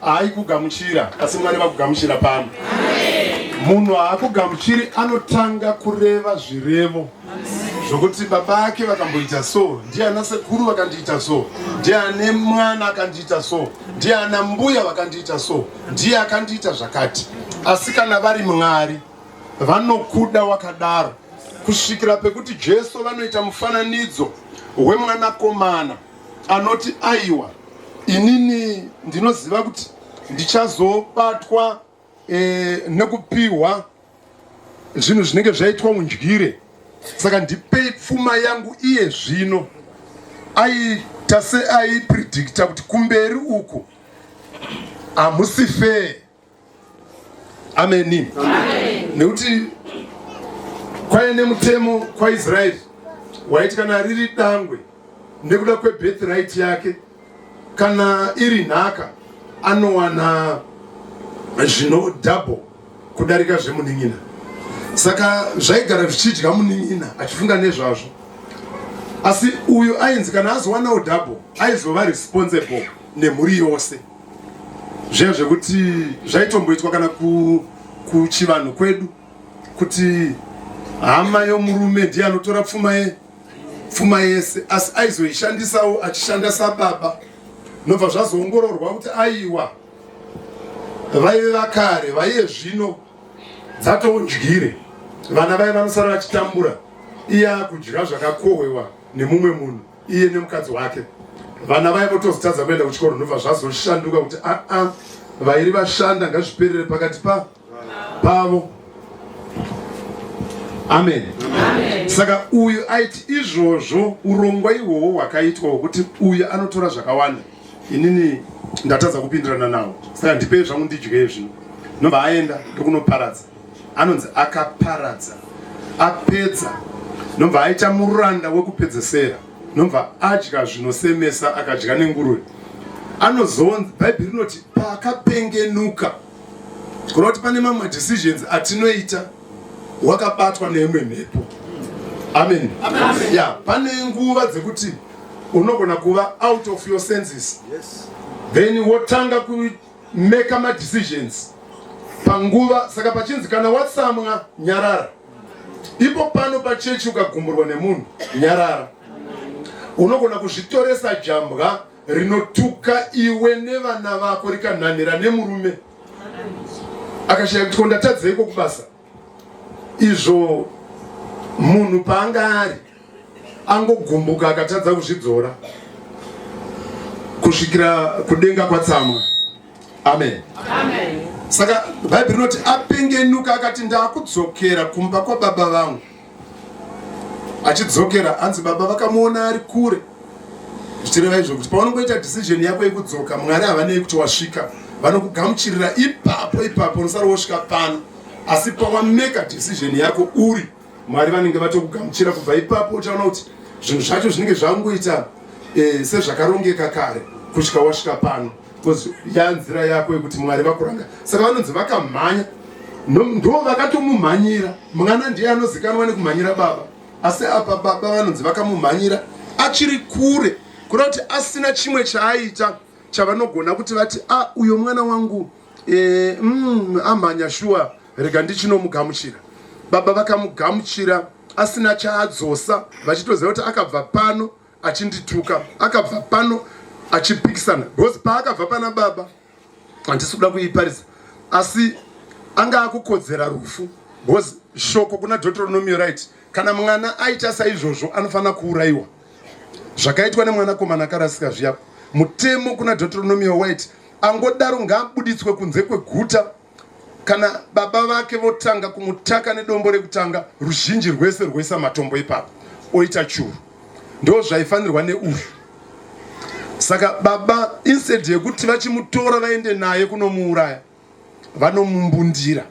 Haikugamuchira, asi Mwari vakugamuchira pano. Munhu haakugamuchiri anotanga kureva zvirevo zvokuti baba vake vakamboita so, ndiye ana sekuru vakandiita so, ndiye ane mwana akandiita so, ndiye ana mbuya vakandiita so, ndiye akandiita zvakati. Asi kana vari Mwari vanokuda wakadaro kusvikira pekuti Jesu vanoita mufananidzo wemwanakomana anoti aiwa inini ndinoziva kuti ndichazobatwa e, nekupihwa zvinhu zvinenge zvaitwa undyire saka ndipei pfuma yangu iye zvino aita seaipredicta kuti kumberi uku hamusi fee ameni nekuti kwaive nemutemo kwaisraeri waiti kana riri dangwe nekuda kwebirth right yake kana iri nhaka anowana zvino double kudarika zvemunin'ina saka zvaigara zvichidya munin'ina achifunga nezvazvo asi uyu ainzi kana azowanawo double aizova responsible nemhuri yose zviya zvekuti zvaitomboitwa kana kuchivanhu kwedu kuti hama yomurume ndiye anotora pfuma ye pfuma yese asi aizoishandisawo achishanda sababa nobva zvazoongororwa kuti aiwa vaive vakare vaiye zvino dzatoundyire vana vaive vanosara vachitambura iye akudya zvakakohwewa nemumwe munhu iye nemukadzi wake vana vaye votozitadza kuenda kuchikoro ndobva zvazoshanduka kuti aa ah, ah, vairi vashanda ngazviperere pakati pa pavo amen saka uyu aiti izvozvo urongwa ihwohwo hwakaitwa hwekuti uyu anotora zvakawanda inini ndatadza kupindirana nawo saka ndipei zvangu ndidyei zvino nobva aenda ndokunoparadza anonzi akaparadza apedza nobva aita muranda wekupedzesera nobva adya zvinosemesa akadya nenguruve anozonzi bhaibheri rinoti paakapengenuka kureva kuti pane mamwe madecisions atinoita wakabatwa neimwe mhepo amen ya pane nguva dzekuti unogona kuva out of your senses then wotanga kuita maker ma decisions panguva saka pachinzi kana watsamwa nyarara ipo pano pachechi ukagumburwa nemunhu nyarara unogona kuzvitoresa jambwa rinotuka iwe nevana vako rikanhanhira nemurume akashaya kuti ko ndatadzeiko kubasa izvo munhu paanga ari angogumbuka akatadza kuzvidzora kusvikira kudenga kwatsamwa amen, amen. saka bhaibheri rinoti apengenuka akati ndakudzokera kumba kwababa vangu achidzokera hanzi baba vakamuona ari kure zvichireva izvo kuti paunongoita decision yako yekudzoka mwari havanei kuti wasvika vanokugamuchirira ipapo ipapo unosara wosvika pano asi pawameka decision yako uri mwari vanenge vatokugamuchira kubva ipapo uchaona kuti zvinhu zvacho zvinenge zvangoita eh, sezvakarongeka kare kusvika wasvika pano because yanzira yako yekuti mwari vakuranga saka vanonzi vakamhanya ndo vakatomumhanyira mwana ndiye anozikanwa nekumhanyira baba asi apa baba vanonzi vakamumhanyira achiri kure kuda kuti asina chimwe chaaita chavanogona kuti vati a ah, uyo mwana wangu e, mm, amhanya shuwa rega ndichinomugamuchira baba vakamugamuchira asina chaadzosa vachitoziva kuti akabva pano achindituka akabva pano achipikisana because paakabva pana baba handisi kuda kuiparidza asi anga akukodzera rufu because shoko kuna deuteronomio right kana mwana aita saizvozvo anofanira kuurayiwa zvakaitwa nemwanakomana akarasika zviya mutemo kuna deuteronomio white angodaro ngaabuditswe kunze kweguta kana baba vake votanga kumutaka nedombo rekutanga ruzhinji rwese rwoisa matombo ipapo oita churu ndo zvaifanirwa neuyu saka baba instead yekuti vachimutora vaende naye kunomuuraya vanomumbundira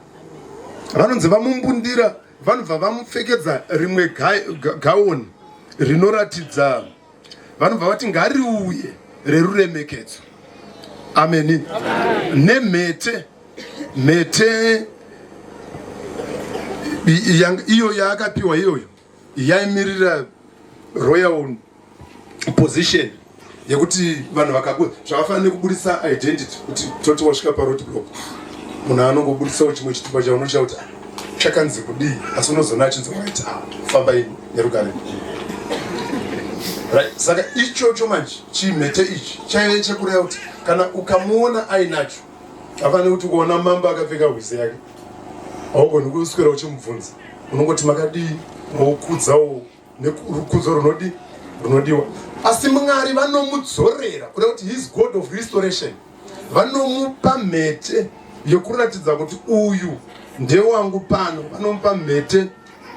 vanonzi vamumbundira vanobva vamupfekedza rimwe gaoni rinoratidza vanobva vati ngariuye reruremekedzo ameni nemhete mhete iyo yaakapiwa iyoyo yaimirira royal position yekuti vanhu vakaku zvakafanira nekuburitsa identity kuti toti wasvika paroti block munhu anongobuditsawo chimwe chitupa chaunochauta chakanzi kudii asi unozoona achinzi right ah, fambai nerugare right saka ichocho manje chimhete ichi chaive chekureva kuti kana ukamuona ainacho afanire kuti ukaona mambo akapfeka hwize yake haugoni kuswera uchimubvunza unongoti makadii mokudzawo nekurukudzo runodi runodiwa asi mwari vanomudzorera kuda kuti his god of restoration vanomupa mhete yekuratidza kuti uyu ndewangu pano vanomupa mhete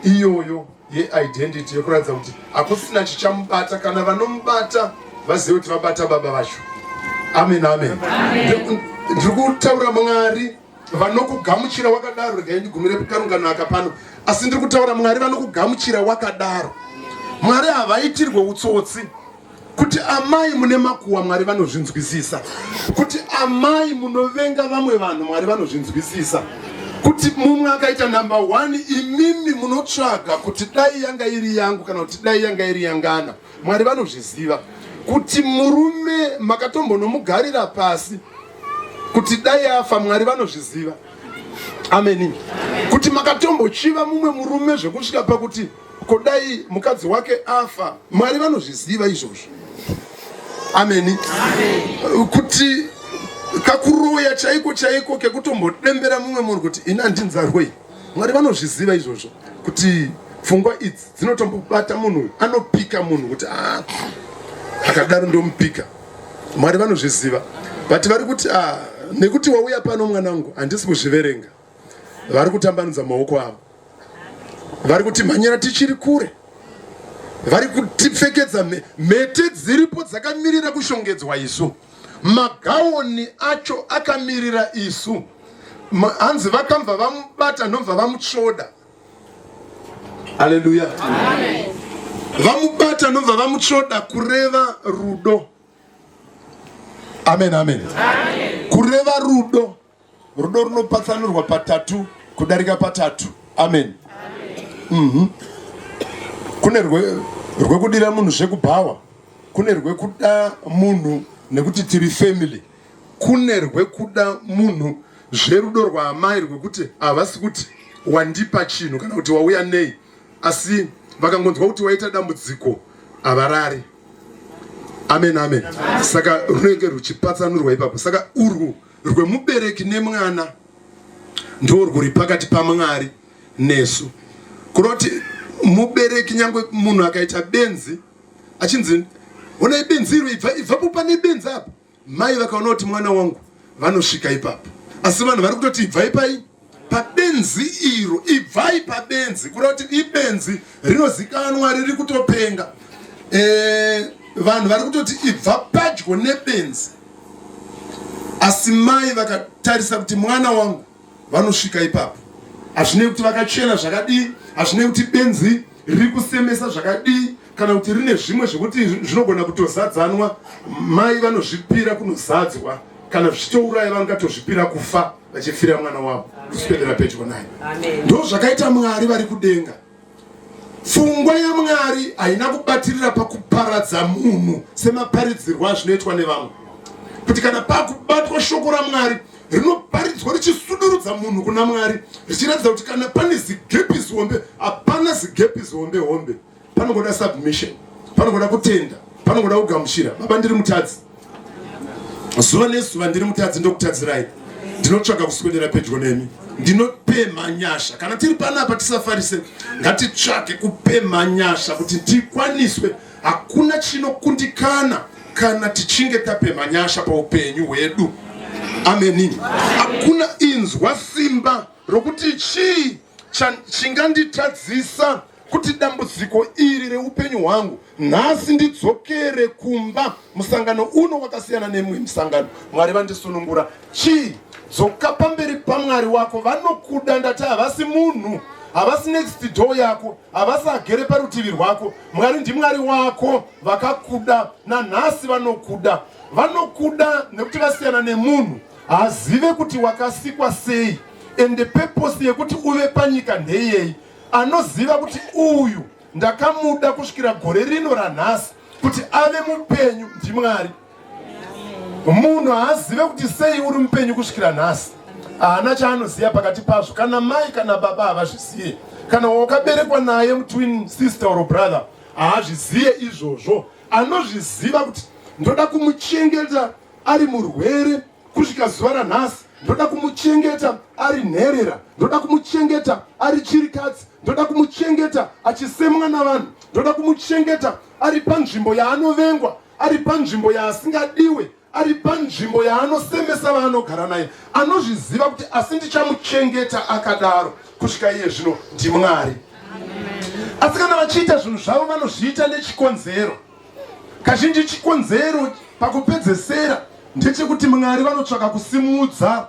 iyoyo yeidentity yekuratidza kuti hakusina chichamubata kana vanomubata vazive kuti vabata baba vacho amen amen ndiri kutaura mwari vanokugamuchira wakadaro regai ndigumire kukarungano aka pano asi ndiri kutaura mwari vanokugamuchira wakadaro mwari havaitirwe utsotsi kuti amai mune makuwa mwari vanozvinzwisisa kuti amai munovenga vamwe vanhu mwari vanozvinzwisisa kuti mumwe akaita number one imimi munotsvaga kuti dai yanga iri yangu kana kuti dai yanga iri yangana mwari vanozviziva kuti murume makatombonomugarira pasi kuti dai afa mwari vanozviziva ameni kuti makatombochiva mumwe murume zvekusvika pakuti kodai mukadzi wake afa mwari vanozviziva izvozvo ameni kuti kakuroya chaiko chaiko kekutombodembera mumwe munhu kuti ini andinzarwei mwari vanozviziva izvozvo kuti pfungwa idzi dzinotombobata munhu anopika munhu kuti ah, akadaro ndomupika mwari vanozviziva but vari kuti ah, nekuti wauya pano mwana wangu handisi kuzviverenga vari kutambanudza maoko avo vari kuti mhanyira tichiri kure vari kutipfekedza mhete dziripo dzakamirira kushongedzwa isu magawoni acho akamirira isu hanzi vakambva vamubata ndomva vamutsvoda Haleluya. Vamubata nobva vamutsvoda kureva rudo. Amen, amen. Amen. Kureva rudo. Rudo runopatsanurwa patatu kudarika patatu. Amen. Amen. Mm Kune rwekudira munhu zvekubhawa. Kune rwekuda munhu nekuti tiri family. kune rwekuda munhu zverudo rwaamai rwekuti havasi kuti wandipa chinhu kana kuti wauya nei asi vakangonzwa kuti waita dambudziko havarari amen amen saka runenge ruchipatsanurwa ipapo saka urwu rwemubereki nemwana ndo rwuri pakati pamwari nesu kunoti mubereki nyangwe munhu akaita benzi achinzi honai benzi iro ibvapo pane benzi apo Mai vakaona kuti mwana wangu vanosvika ipapo, asi vanhu vari kutoti ibvai pai pabenzi iro, ibvai pabenzi, kureva kuti ibenzi rinozikanwa riri kutopenga. E, vanhu vari kutoti ibva padyo nebenzi, asi mai vakatarisa kuti mwana wangu vanosvika ipapo hazvinei kuti vakachena zvakadii hazvinei kuti benzi riri kusemesa zvakadii kana kuti rine zvimwe zvekuti zvinogona kutozadzanwa mai vanozvipira kunozadzwa kana zvichitouraya vangatozvipira kufa vachifira mwana wavo kuswedera pedyo naye ndo zvakaita mwari vari kudenga Pfungwa yaMwari haina kubatirira pakuparadza munhu semaparidzirwo azvinoitwa nevamwe, kuti kana pakubatwa shoko raMwari rinoparidzwa richisudurudza munhu kuna Mwari, richiratidza kuti kana pane zigepi zihombe, hapana zigepi zihombe hombe, panongoda submission, panongoda kutenda, panongoda kugamuchira. Baba, ndiri mutadzi. zuva nezuva ndiri mutadzi ndokutadzirai ndinotsvaga kuswedera pedyo nemi ndinopemha nyasha kana tiri panapa tisafarise ngatitsvage kupemha nyasha kuti tikwaniswe hakuna chinokundikana kana tichinge tapemha nyasha paupenyu hwedu ameni hakuna inzwa simba rokuti chii chinganditadzisa cha kuti dambudziko iri reupenyu hwangu nhasi ndidzokere kumba musangano uno wakasiyana nemwe musangano mwari vandisunungura chii dzoka pamberi pamwari wako vanokuda ndati havasi munhu havasi next door yako havasi agere parutivi rwako mwari ndimwari wako vakakuda nanhasi vanokuda vanokuda nekuti vasiyana nemunhu hazive kuti wakasikwa sei ende peposi yekuti uve panyika ndeyei anoziva kuti uyu ndakamuda kusvikira gore rino ranhasi kuti ave mupenyu ndimwari munhu haazive kuti sei uri mupenyu kusvikira nhasi haana chaanoziva pakati pazvo kana mai kana baba havazvizive kana wakaberekwa naye mutwin sister or brother haazvizive izvozvo anozviziva kuti ndoda kumuchengeta ari murwere kusvika zuva ranhasi ndoda kumuchengeta ari nherera ndoda kumuchengeta ari chirikadzi ndoda kumuchengeta achisemwa navanhu ndoda kumuchengeta ari panzvimbo yaanovengwa ari panzvimbo yaasingadiwe ari panzvimbo yaanosemesa vaanogara naye anozviziva kuti asi ndichamuchengeta akadaro kusvika iye zvino ndimwari asi kana vachiita zvinhu zvavo vanozviita nechikonzero Kazhinji chikonzero pakupedzesera ndechekuti Mwari vanotsvaka kusimudza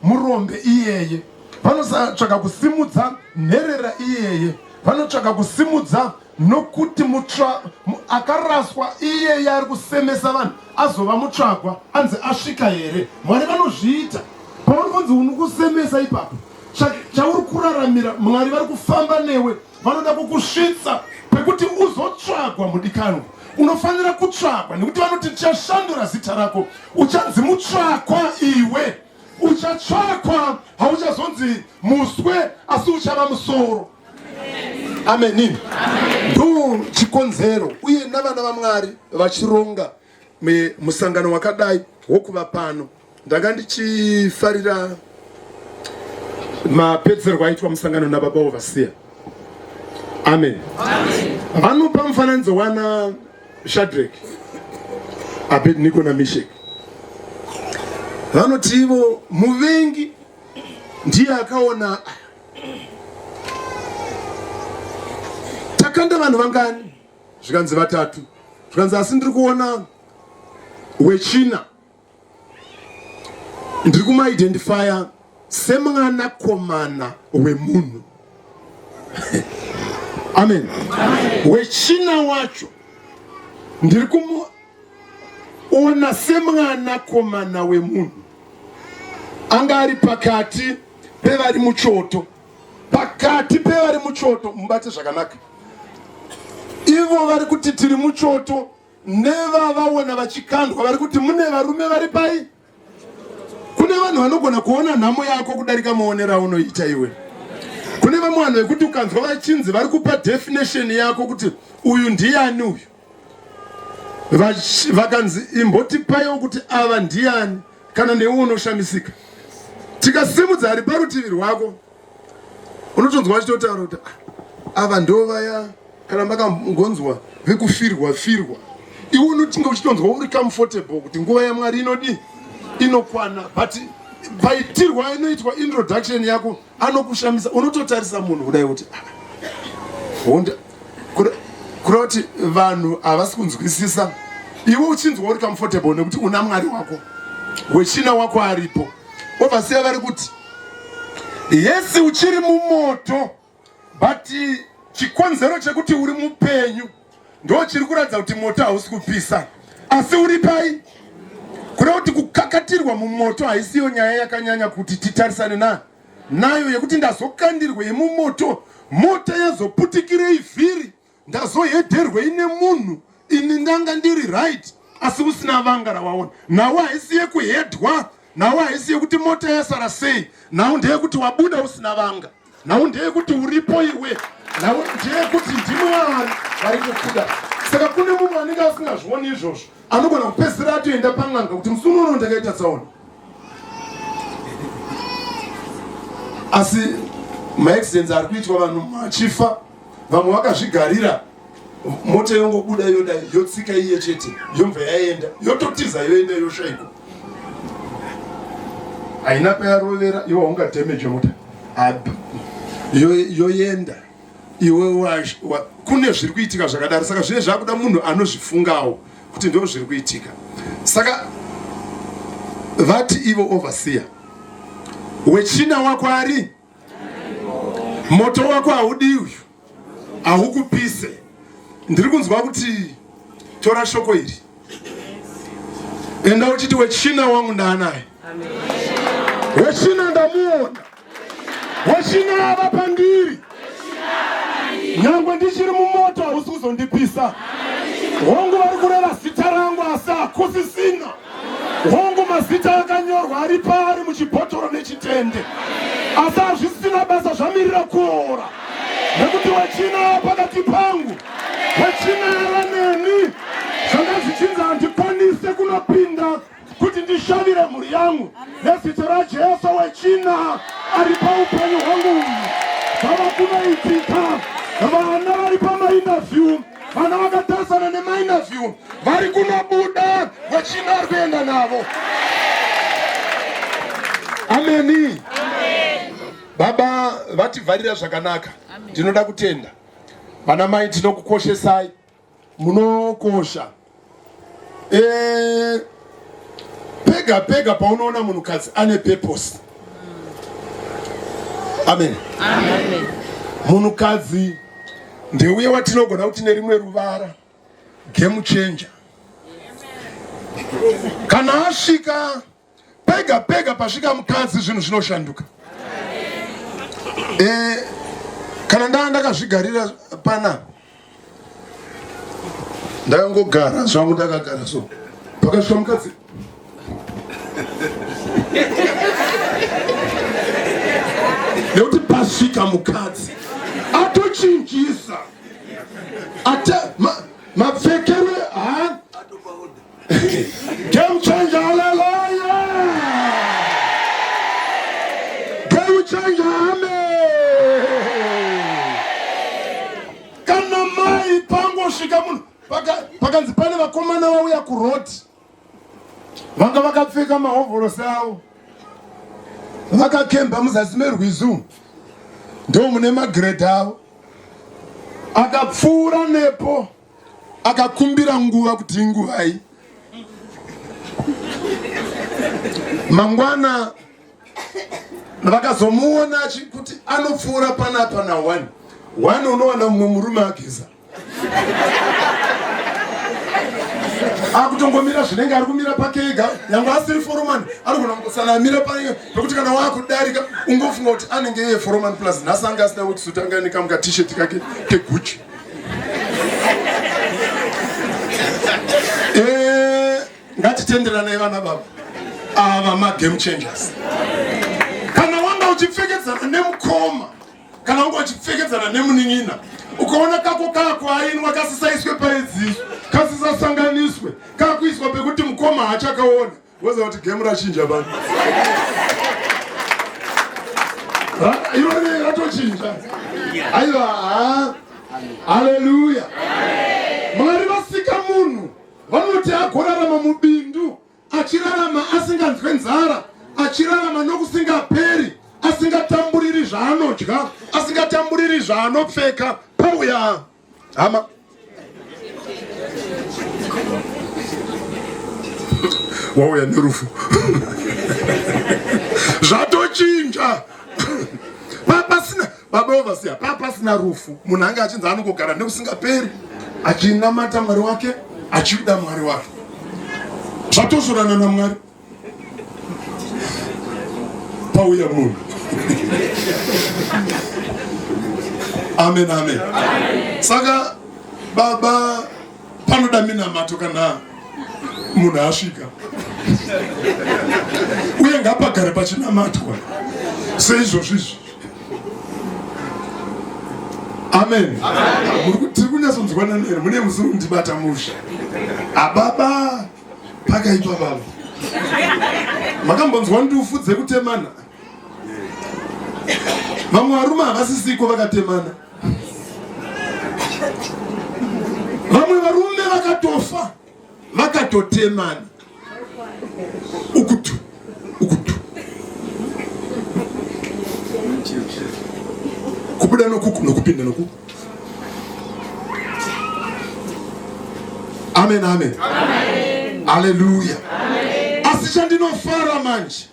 murombe iyeye, vanotsvaka kusimudza nherera iyeye, vanotsvaka kusimudza nokuti mutsva akaraswa iyeye ari kusemesa vanhu azova mutsvagwa anzi asvika here mwari vanozviita pauri kunzi unokusemesa ipapo chauri kuraramira mwari vari kufamba newe vanoda kukusvitsa pekuti uzotsvagwa mudikanwa unofanira kutsvagwa nekuti vanoti tichashandura zita rako uchanzi mutsvakwa iwe uchatsvakwa hauchazonzi muswe asi uchava musoro ameni ndo chikonzero uye navana vamwari vachironga musangano wakadai wokuva pano Ndanga ndichifarira mapedzerwo aitwa musangano nababa ovasiya. Amen. Vanopa mufananidzo wana Shadrach, Abednego naMeshach. Vanoti ivo muvengi ndiye akaona takanda vanhu vangani zvikanzi vatatu zvikanzi asi ndiri kuona wechina ndiri kumaidentifya semwana komana wemunhu amen wechina wacho ndiri kumuona semwana komana wemunhu anga ari pakati pevari muchoto pakati pevari muchoto mubate zvakanaka ivo vari kuti tiri muchoto nevavaona vachikandwa vari kuti mune varume vari pai kune vanhu vanogona kuona nhamo yako kudarika maonero aunoita iwe kune vamwe vanhu vekuti ukanzwa vachinzi vari kupa definition yako kuti uyu ndiani uyu vakanzi imbotipaiwo kuti ava ndiani kana newe unoshamisika tikasimudza ari parutivi rwako unotonzwa vachitotaura kuti ah, ava ndo vaya kana makangonzwa vekufirwa firwa iwe unotinga uchitonzwa uri comfortable kuti nguva yamwari inodii inokwana but paitirwa inoitwa introduction yako anokushamisa unototarisa munhu kudai kuti ah, honda kura kuti vanhu havasi kunzwisisa iwe uchinzwa uri comfortable nekuti una mwari wako wechina wako aripo ovasiya vari kuti yesi uchiri mumoto but chikonzero chekuti uri mupenyu ndo chiri kuratidza kuti moto hausi kupisa asi uri pai kureva kuti kukakatirwa mumoto haisiyo nyaya yakanyanya kuti titarisane na nayo yekuti ndazokandirwa yemumoto mota yazoputikirei vhiri ndazohedherwei nemunhu ini ndanga ndiri right asi usina vanga rawaona nhau haisi yekuhedhwa nhau haisi yekuti mota yasara sei nhau ndeyekuti wabuda usina vanga nhau ndeyekuti uripo iwe nhau ndeyekuti ndimi waari vari kukuda saka kune mumwe anenge asingazvioni izvozvo anogona kupedzisira atoenda pan'anga kuti musi unono ndakaita tsaona asi maaccidents ari kuitwa vanhu machifa vamwe vakazvigarira mota yongobuda yoda yotsika iye chete yobva yaenda yototiza yoenda yoshaiko haina payarovera iwe haunga damage mota abi yoenda iwe kune zviri kuitika zvakadaro saka zvine zvakuda munhu anozvifungawo kuti ndo zviri kuitika saka vati ivo overseer wechina wakwari Moto wako haudi uyu, haukupise. Ndiri kunzwa kuti tora shoko iri, enda uchiti wechina wangu ndaanaye, wechina ndamuona, wechina ava pandiri, nyangwe ndichiri mumoto hausi kuzondipisa. Hongu vari kureva zita rangu asi hakusisina Hongu, mazita akanyorwa ari paari muchibhotoro nechitende, asi hazvisina basa zvamirira kuora, nekuti wechina pakati pangu, wechina yava neni. Zvanga zvichinzi handikwanise kunopinda kuti ndishavire mhuri yangu, nezita raJesu wechina ari paupenyu hwangu uyu zvava kunoitika vana vari pamainavyu vana vakatarisana nemainaview vari kunobuda wechina ari kuenda navo ameni baba vativharira zvakanaka ndinoda kutenda vana mai tinokukoshesai munokosha Eh, pega pega paunoona munhukadzi ane purpose amen munhukadzi ndeuye watinogona kuti nerimwe ruvara game changer kana asvika Pega pega pasvika mukadzi zvinhu zvinoshanduka. Eh, kana ndanga ndakazvigarira pana ndakangogara zvangu ndakagara so pakasvika mukadzi nekuti pasvika mukadzi atochinjisa ata mapfekero Game changer, hallelujah! Game changer, amen! Kana mai pangosvika munhu pakanzi pane vakomana vauya kuroad vanga vakapfeka mahovhorosi avo vakakemba muzasi merwizu ndo mune magredha avo akapfuura nepo akakumbira nguva kuti inguvai mangwana vakazomuona kuti anopfuura panapa na one one unowana mumwe murume ageza akutongomira zvinenge ari kumira pake ega yange asiri foromani anogona kungosana amira paye pekuti kana waakudarika ungofunga kuti anenge iye foromani plus nhasi anga asina wekisutanga nekamuka t-shirt kake keguchi Eh, ngatitenderanai vana baba ava magame changers kana wanga uchipfekedzana nemukoma kana wanga uchipfekedzana nemunin'ina ukaona kako kako ainwa kasisaiswe paidziso kasisasanganiswe kakuiswa pekuti mukoma haachakaona Woza kuti game rachinja bani. Ha, iro ne ratochinja. Aiwa, ha. Hallelujah. Mwari vasika munhu vanoti agorarama mubindu achirarama asinganzwe nzara achirarama nokusingaperi asingatamburiri zvaanodya asingatamburiri zvaanopfeka pauya hama wauya nerufu zvatochinja papasina babaovasiya papasina rufu munhu ange achinzi anongogara nekusingaperi achinamata mwari wake achida mwari wake zvatozorana namwari pauya munhu amen amen saka baba panoda minamato kana munhu asvika uye ngapagare pachinamatwa seizvozvo izvi amen tiri kunyatsonzwanana here mune musiri kundibata musha ababa pakaitwa vanhu makambonzwa ndufu dzekutemana vamwe varume havasisiko vakatemana vamwe varume vakatofa vakatotemana ukutu kubuda nokuku nokupinda nokuku amen amen haleluya asi chandinofara manje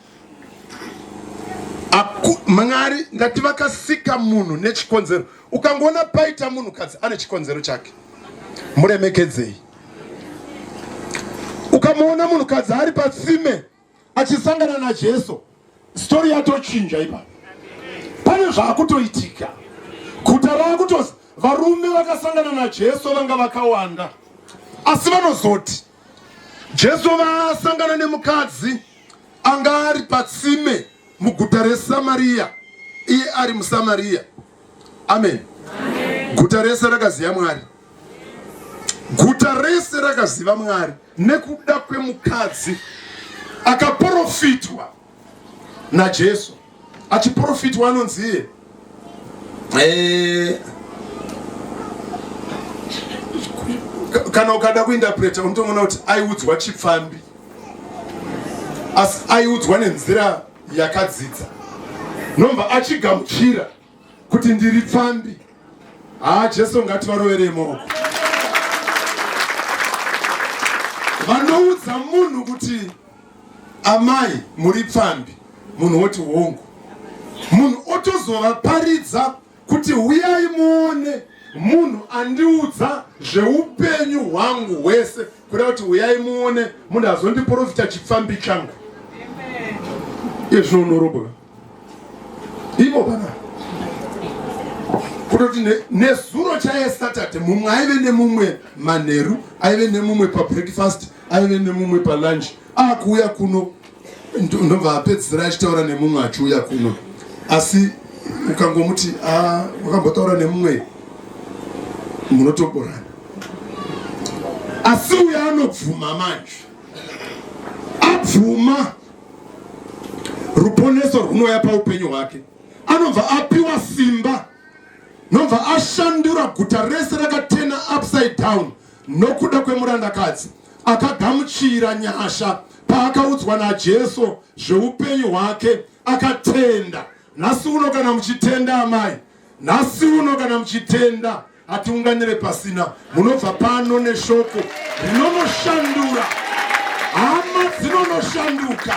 mwari ndati vakasika munhu nechikonzero ukangoona paita munhu kadzi ane chikonzero chake muremekedzei ukamuona munhukadzi ari patsime achisangana najesu stori yatochinja ipa pane zvaakutoitika guta raakutozi varume vakasangana najesu vanga vakawanda asi vanozoti jesu vasangana nemukadzi anga ari patsime muguta resamariya iye ari musamariya amen guta rese rakaziva mwari Guta rese rakaziva Mwari nekuda kwemukadzi akaprofitwa naJesu. Achiprofitwa anonzi iye eh, kana ukada kuindapreta unotoona kuti aiudzwa chipfambi asi aiudzwa nenzira yakadzidza nomva achigamuchira kuti ndiri pfambi haa jesu ngativaroverei maoko vanoudza munhu kuti amai muri pfambi munhu woti hongu munhu otozovaparidza kuti huyai muone munhu andiudza zveupenyu hwangu hwese kuda kuti huyai muone munhu azondiprofita chipfambi changu izvi zvinonoroboka ivo bana kutoti nezuro ne chaye saturday mumwe aive nemumwe manheru aive nemumwe pabreakfast aive nemumwe palunch akuuya kuno ndobva apedzisira achitaura nemumwe achiuya kuno asi ukangomuti ah, wakambotaura nemumwe munotoborana asi uyo anobvuma manje abvuma ruponeso rwunouya paupenyu hwake anobva apiwa simba nobva ashandura guta rese rakatena upside down nokuda kwemurandakadzi akagamuchira nyasha paakaudzwa najesu zveupenyu hwake akatenda nhasi uno kana muchitenda amai nhasi uno kana muchitenda Hatiunganire pasina. Munobva pano neshoko rinonoshandura. Hama dzinonoshanduka.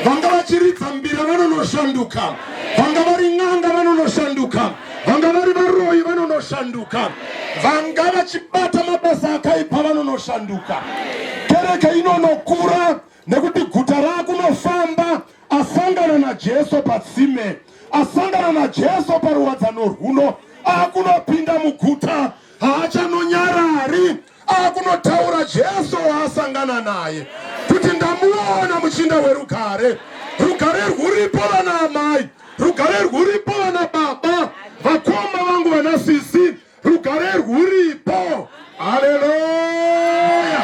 Vanga vachiridza mbira vanonoshanduka. Vanga vari n'anga vanonoshanduka. Vanga vari varoyi vanonoshanduka. Vanga vachibata mabasa akaipa vanonoshanduka. Kereke inonokura. nekuti guta raakunofamba asangana najesu patsime asangana najesu paruwadzano rwuno akunopinda muguta haachanonyarari akunotaura jesu waasangana naye kuti ndamuona muchinda werugare rugare rwuripo vana amai rugare rwuripo vana baba vakoma vangu vana sisi rugare rwuripo haleluya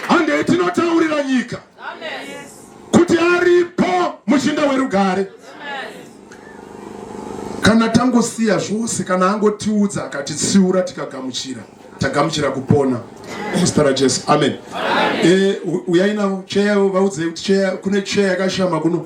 handei tinotaurira nyika kuti aripo muchinda werugare kana tangosiya zvose kana angotiudza akatitsiura tikagamuchira tagamuchira kupona muzita rajesu amen, amen. E, eh, uyainavo cheya vaudzei kuti cheya kune cheya yakashama kuno